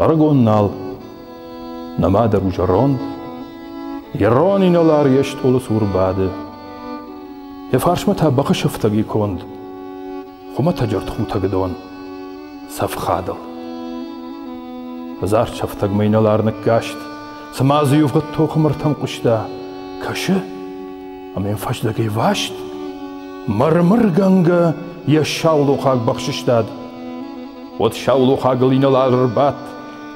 Ӕрыгон нал, нымадӕр у зӕронд, йӕ рон инӕлар йе стъолы цур бады. Йӕ фарсмӕ та бахы сыфтӕг и конд. Хуымӕтӕджы ӕртхутӕгдон цӕфхадыл. Хъызар сӕфтӕгмӕ инӕлар ныккаст, цыма дзы иувгъуыд тохы мыртӕм хъуыста, кӕсы, ӕмӕ йын фӕздӕгӕй васт, мыр-мыргӕнгӕ йӕ саулохаг бахсыстад. Уӕд саулохагыл инӕлар ӕрбадт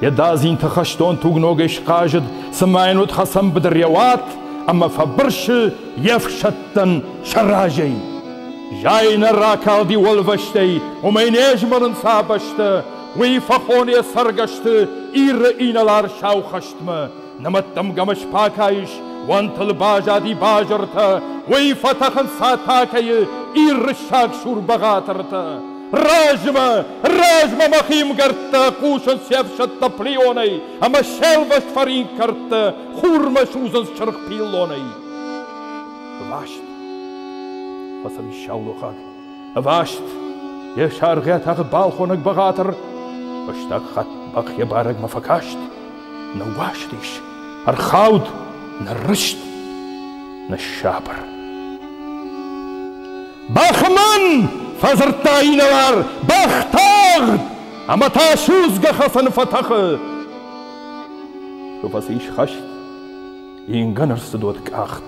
Е да зинтӕ хӕстон тугногӕй схъазыд, цыма йын уыд хӕцӕн быдыр йӕ уат ӕмӕ фӕбырсы йе фсӕдтӕн сӕ разӕй. Зӕй нӕ ракалди уӕлвӕстӕй, уымӕй не змӕлын сӕ бӕстӕ, уый фӕхон йӕ цӕргӕсты Иры инӕлар сау хӕстмӕ, Нымӕттымгӕмӕ спакайыс, уӕнтыл базади базыртӕ, уый фӕтӕхынц атакӕйы ирыссаг сурбӕгъатыртӕ. Размӕ, размӕ мӕ химгӕрдтӕ хъусынц се фсӕдтӕ плеонӕй, ӕмӕ селвӕст фӕринкгӕрдтӕ хурмӕ судзынц чыргъ пиллонӕй. Ласт! Фӕцыдис саулохаг. Ӕваст, йе саргъӕ тагъд балхонӕг бӕгъатыр фӕстаг хатт бӕхйӕ барӕгмӕ фӕкаст. Ныууастис, ӕрхауд, ныррызт, ныссабыр. Бӕхман! фӕдзырдта инӕлар. Бӕх тагъд! Ӕмӕ та судзгӕ хӕфӕны фӕтӕхы. Куы фӕцис хӕст, ингӕн ӕрцыдод къахт.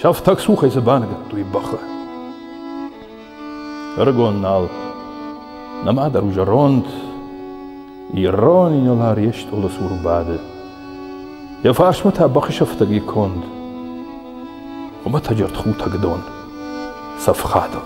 Сӕфтӕг цухӕй дзы баныгӕдтой бӕхы. Ӕрыгон нал, нӕма дӕр у зӕронд, ирон инӕлар йе стъолы цур бады. Йӕ фарсмӕ та бӕхы сӕфтӕги конд. Хуымӕтӕджырд хутӕг дон, цӕфхадыл.